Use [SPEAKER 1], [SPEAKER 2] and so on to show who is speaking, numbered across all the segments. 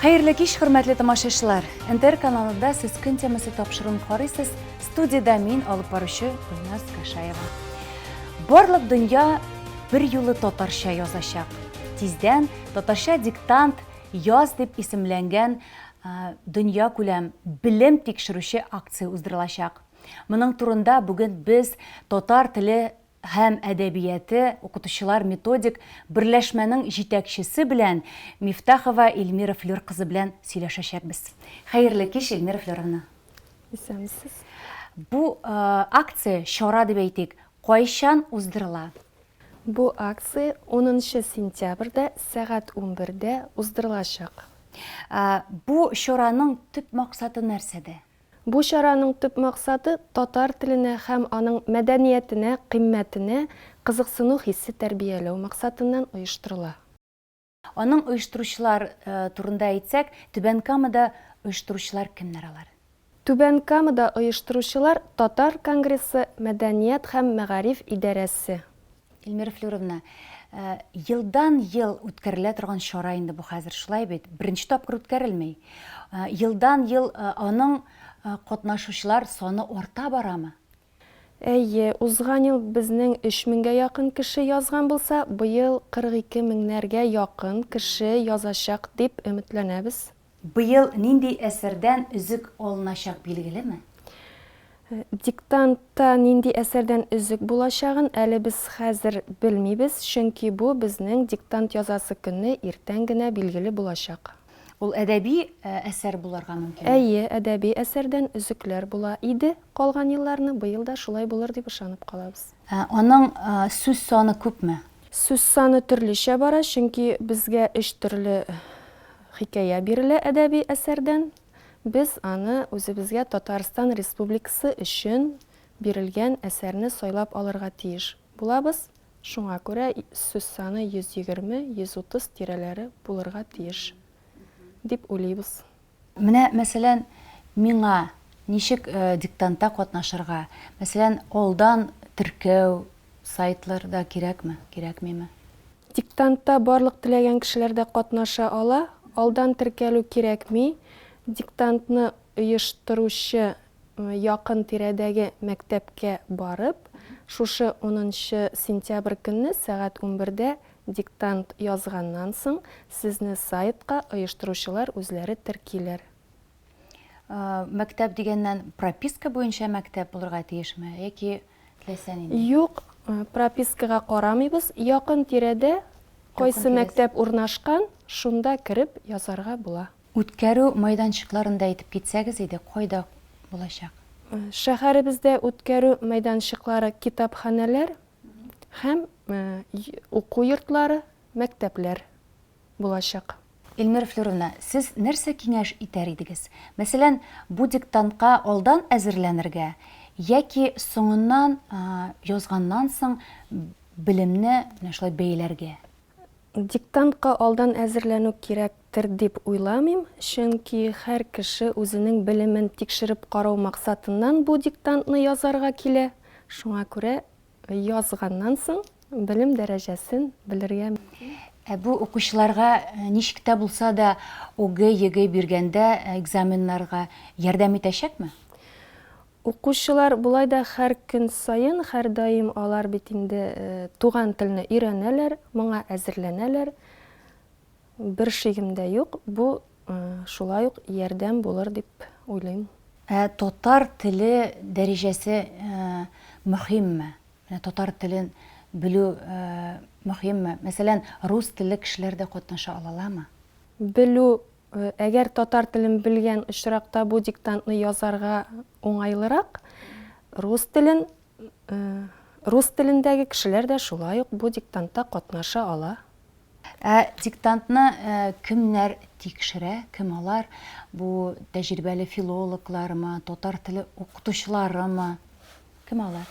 [SPEAKER 1] Хәерле кич, хөрмәтле тамашачылар! НТР каналында Сез көн темасы тапшыруын карыйсыз. Студиядә мин, алып баручы Гөлназ Кашаева. Барлык дөнья бер юлы татарча язачак. Тиздән татарча диктант яз дип исемләнгән дөнья күләм белем тикшерүче акция уздырылачак. Моның турында бүген без татар теле һәм әдәбияты укытучылар методик берләшмәнең җитәкчесе белән Мифтахова Эльмира Флер кызы белән сөйләшәчәкбез. Хәерле кич, Эльмира Флеровна! Исәнмесез!
[SPEAKER 2] Бу
[SPEAKER 1] акция, чара дип әйтик, кайчан уздырыла? Бу
[SPEAKER 2] акция унынчы сентябрьдә сәгать унбердә уздырылачак.
[SPEAKER 1] Бу чараның төп максаты нәрсәдә? Бу чараның
[SPEAKER 2] төп максаты, татар теленә һәм аның мәдәниятенә, кыйммәтенә кызыксыну хисе тәрбияләү максатыннан оештырыла. Аның
[SPEAKER 1] оештыручылар турында әйтсәк, Түбән Камада оештыручылар кемнәр алар? Түбән Камада
[SPEAKER 2] оештыручылар Татар конгрессы мәдәният һәм мәгариф идарәсе, Эльмира
[SPEAKER 1] Флюровна, э, елдан-ел үткәрелә торган чара инде бу хәзер, шулай бит? Беренче тапкыр үткәрелми. Э, елдан-ел э, аның катнашучылар саны арта барамы? Әйе,
[SPEAKER 2] узган ел безнең 3000гә якын кеше язган булса, быел 42 меңнәргә якын кеше язачак дип өметләнәбез. Быел нинди
[SPEAKER 1] әсәрдән өзек алыначак билгелеме? Диктантта
[SPEAKER 2] нинди әсәрдән өзек булачагын әле без хәзер белмибез, чөнки бу безнең диктант язасы көнне иртән генә билгеле булачак. Ул әдәби
[SPEAKER 1] әсәр булырга мөмкинме? Әйе, әдәби
[SPEAKER 2] әсәрдән өзекләр була иде калган елларны, быел да шулай булыр дип ышанып калабыз. Аның
[SPEAKER 1] сүз саны күпме? Сүз саны
[SPEAKER 2] төрлечә бара, чөнки безгә өч төрле Хикәя бирелә әдәби әсәрдән, без аны үзебезгә Татарстан Республикасы өчен бирелгән әсәрне сайлап алырга тиеш булабыз, шуңа күрә сүз саны 120, 130 тирәләре булырга тиеш дип уйлыйбыз. Менә,
[SPEAKER 1] мәсәлән, миңа ничек диктантта катнашырга, мәсәлән, алдан теркәү, сайтлар да кирәкме, кирәкмиме? Диктантта
[SPEAKER 2] барлык теләгән кешеләр дә катнаша ала, алдан теркәлү кирәкми, диктантны оештыручы якын тирәдәге мәктәпкә барып, шушы унынчы сентябрь көнне сәгать унбердә диктант язганнан соң, сезне сайтка оештыручылар үзләре теркиләр. Мәктәп
[SPEAKER 1] дигәннән, прописка буенча мәктәп булырга тиешме яки теләсә нинди. Юк,
[SPEAKER 2] пропискага карамыйбыз, якын тирәдә кайсы мәктәп урнашкан, шунда кереп язарга була. Үткәрү
[SPEAKER 1] мәйданчыкларын да әйтеп китсәгез иде, кайда булачак? Шәһәребездә
[SPEAKER 2] үткәрү мәйданчыклары китапханәләр һәм уку йортлары, мәктәпләр булачак. Эльмира
[SPEAKER 1] Флюровна, сез нәрсә киңәш итәр идегез? Мәсәлән, бу диктантка алдан әзерләнергә яки соңыннан, язганнан соң белемне менә шулай бәяләргә? Диктантка
[SPEAKER 2] алдан әзерләнү кирәктер дип уйламыйм, чөнки һәр кеше үзенең белемен тикшереп карау максатыннан бу диктантны язарга килә. Шуңа күрә Язганнан соң белем дәрәҗәсен белергә мөмкин. Ә бу
[SPEAKER 1] укучыларга ничек тә булса да ОГЭ-ЕГЭ биргәндә экзаменнарга ярдәм итәчәкме?
[SPEAKER 2] Укучылар болай да һәр көн саен, һәрдаим алар бит инде туган телне өйрәнәләр, моңа әзерләнәләр. Бер шигем дә юк, бу шулай ук ярдәм булыр дип уйлыйм. Ә татар
[SPEAKER 1] теле дәрәҗәсе мөһимме? Менә татар телен белү мөһимме? Мәсәлән, рус телле кешеләр дә катнаша алаламы? Белү,
[SPEAKER 2] әгәр татар телен белгән очракта бу диктантны язарга уңайлырак, рус телен, рус телендәге кешеләр дә шулай ук бу диктантта катнаша ала. Ә диктантны
[SPEAKER 1] кемнәр тикшерә, кем алар? Бу тәҗрибәле филологлармы, татар теле укытучыларымы? Кем алар?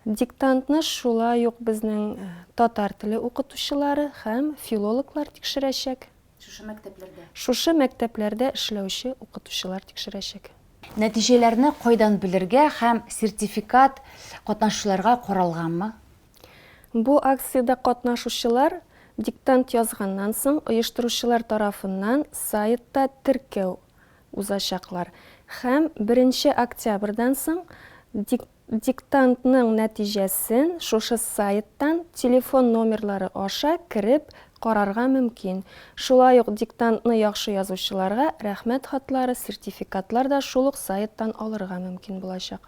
[SPEAKER 1] Диктантны
[SPEAKER 2] шулай ук безнең татар теле укытучылары һәм филологлар тикшерәчәк. Шушы мәктәпләрдә? Шушы мәктәпләрдә эшләүче укытучылар тикшерәчәк. Нәтиҗәләрне
[SPEAKER 1] кайдан белергә һәм сертификат катнашучыларга
[SPEAKER 2] каралганмы? Бу акциядә
[SPEAKER 1] катнашучылар
[SPEAKER 2] диктант язганнан соң оештыручылар тарафыннан сайтта теркәү узачаклар һәм беренче октябрьдән соң диктантның нәтиҗәсен шушы сайттан телефон номерлары аша кереп карарга мөмкин. Шулай ук диктантны яхшы язучыларга рәхмәт хатлары, сертификатлар да шул ук сайттан алырга мөмкин булачак.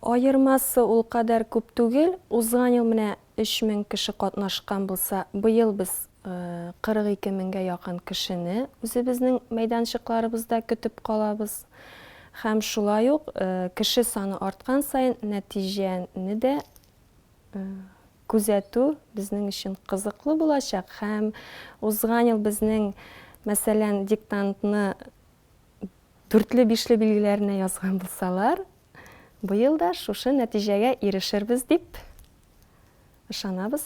[SPEAKER 2] Аермасы ул кадәр күп түгел, узган ел менә өч мең кеше катнашкан булса, быел без 42 меңгә якын кешене үзебезнең мәйданчыкларыбызда көтеп калабыз. Һәм шулай ук кеше саны арткан саен нәтиҗәне дә күзәтү безнең өчен кызыклы булачак һәм узган ел безнең, мәсәлән, диктантны Дүртле-бишле билгеләренә язган булсалар, быел да шушы нәтиҗәгә ирешербез дип ышанабыз.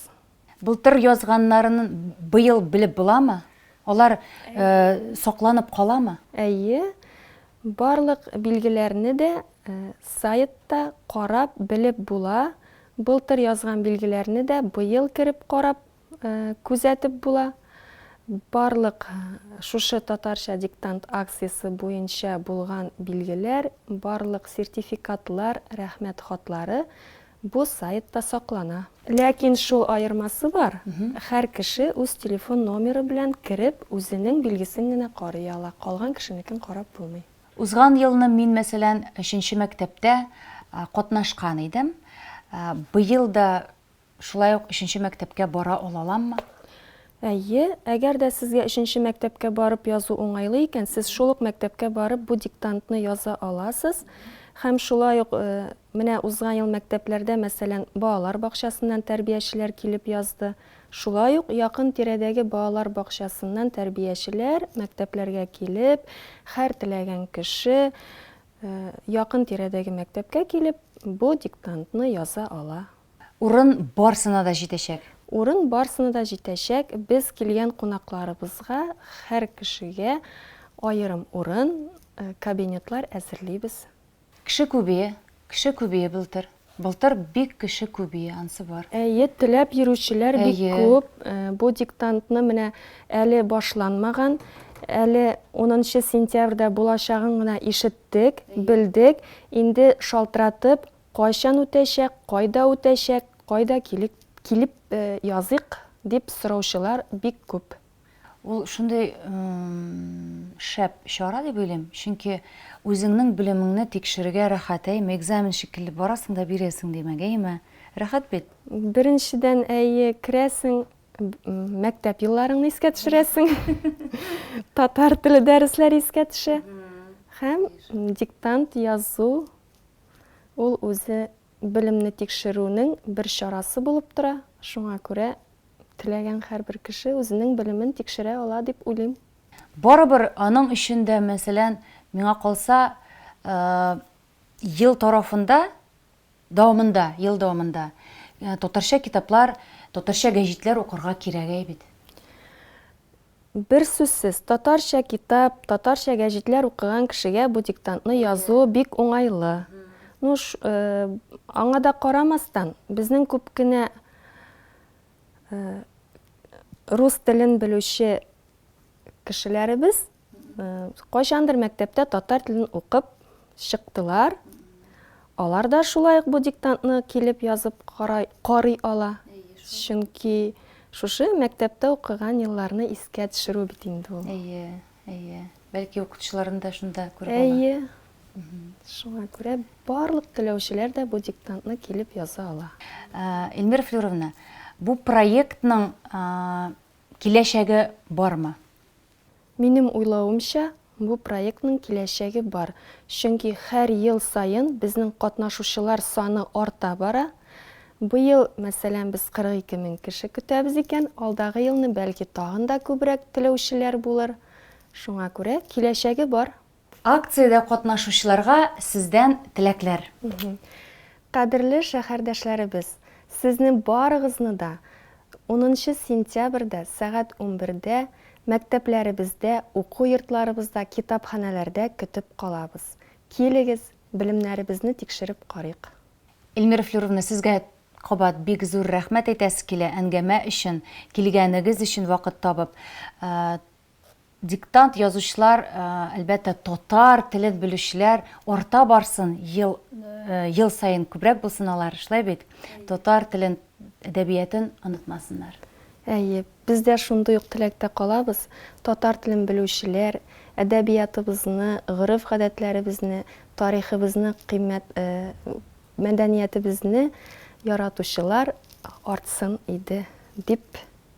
[SPEAKER 2] Былтыр
[SPEAKER 1] язганнарын быел белеп буламы? Алар сакланып каламы? Әйе,
[SPEAKER 2] барлык билгеләрне дә сайтта карап белеп була, былтыр язган билгеләрне дә быел кереп карап күзәтеп була. Барлык шушы Татарча диктант акциясе буенча булган билгеләр, барлык сертификатлар, рәхмәт хатлары бу сайтта саклана. Ләкин шул аермасы бар, һәр кеше үз телефон номеры белән кереп, үзенең билгесен генә карый ала, калган кешенекен карап булмый. Узган елны
[SPEAKER 1] мин, мәсәлән, өченче мәктәптә катнашкан идем. Быел да Шулай ук өченче мәктәпкә бара алаламмы? Әйе.
[SPEAKER 2] Әгәр дә сезгә өченче мәктәпкә барып язу уңайлы икән, сез шул ук мәктәпкә барып бу диктантны яза аласыз. Һәм шулай ук менә узган ел мәктәпләрдә, мәсәлән, балалар бакчасыннан тәрбиячеләр килеп язды. Шулай ук якын тирәдәге балалар бакчасыннан тәрбиячеләр мәктәпләргә килеп, хәр теләгән кеше якын тирәдәге мәктәпкә килеп бу диктантны яза ала. Урын
[SPEAKER 1] барсына да җитәчәк. Урын барсына
[SPEAKER 2] да җитәчәк, без килгән кунакларыбызга һәр кешегә аерым урын, кабинетлар әзерлибез. Кеше күбие,
[SPEAKER 1] кеше күбие былтыр. Былтыр бик кеше күбие, ансы бар. Әйе, теләп
[SPEAKER 2] йөрүчеләр бик күп. Бу диктантны менә әле башланмаган, әле унынчы сентябрьдә булачагын гына ишеттек, белдек, инде шалтыратып Кайчан үтәчәк, кайда үтәчәк, кайда килек, килеп языйк, дип сораучылар бик күп. Ул шундый
[SPEAKER 1] шәп чара дип уйлыйм, чөнки үзеңнең белемеңне тикшерергә рәхәт, әйеме, экзамен шикелле барасың да бирәсең димәк, әйеме? Рәхәт бит? Беренчедән,
[SPEAKER 2] әйе, керәсең, мәктәп елларыңны искә төшерәсең, татар теле дәресләре искә төшә һәм диктант язу Ул үзе белемне тикшерүнең бер чарасы булып тора, шуңа күрә теләгән һәрбер кеше үзенең белемен тикшерә ала дип уйлыйм. Барыбер
[SPEAKER 1] аның өчен дә, мәсәлән, миңа калса, ел тарафында, дәвамында, ел дәвамында татарча китаплар, татарча гәҗитләр укырга кирәгәй бит.
[SPEAKER 2] Берсүзсез, татарча китап, татарча гәҗитләр укыган кешегә бу диктантны язу бик уңайлы. Ну, аңа да карамастан, безнең күп кенә рус телен белүче кешеләребез кайчандыр мәктәптә татар телен укып, Чыктылар. Алар да шулай ук бу диктантны килеп язып карай, карый ала. Әйе, шул. Чөнки шушы мәктәптә укыган елларны искә төшерү бит инде ул. Әйе, әйе.
[SPEAKER 1] Бәлки укытучыларын да шунда күреп ала. Әйе.
[SPEAKER 2] Шуңа күрә барлык теләүчеләр дә бу диктантны килеп яза ала. Эльмира
[SPEAKER 1] Флюровна, бу проектның киләчәге бармы? Минем
[SPEAKER 2] уйлавымча, бу проектның киләчәге бар, чөнки һәр ел саен безнең катнашучылар саны арта бара. Быел, мәсәлән, без 42 мең кеше көтәбез икән, алдагы елны, бәлки, тагын да күбрәк теләүчеләр булыр. Шуңа күрә, киләчәге бар. Акциядә
[SPEAKER 1] катнашучыларга сездән теләкләр.
[SPEAKER 2] Кадерле шәһәрдәшләребез, сезне барыгызны да унынчы сентябрьдә сәгать унбердә мәктәпләребездә, уку йортларыбызда, китапханәләрдә көтеп калабыз. Килегез, белемнәребезне тикшереп карыйк. Эльмира
[SPEAKER 1] Флюровна, сезгә кабат бик зур рәхмәт әйтәсе килә әңгәмә өчен, килгәнегез өчен вакыт табып. Диктант язучылар, әлбәттә, татар телен белүчеләр арта барсын, ел, ел саен күбрәк булсын алар, шулай бит? Татар телен, әдәбиятын онытмасыннар. Әйе,
[SPEAKER 2] без дә шундый ук теләктә калабыз, татар телен белүчеләр, әдәбиятыбызны, гореф-гадәтләребезне, тарихыбызны кыйммәт, мәдәниятебезне яратучылар артсын иде, дип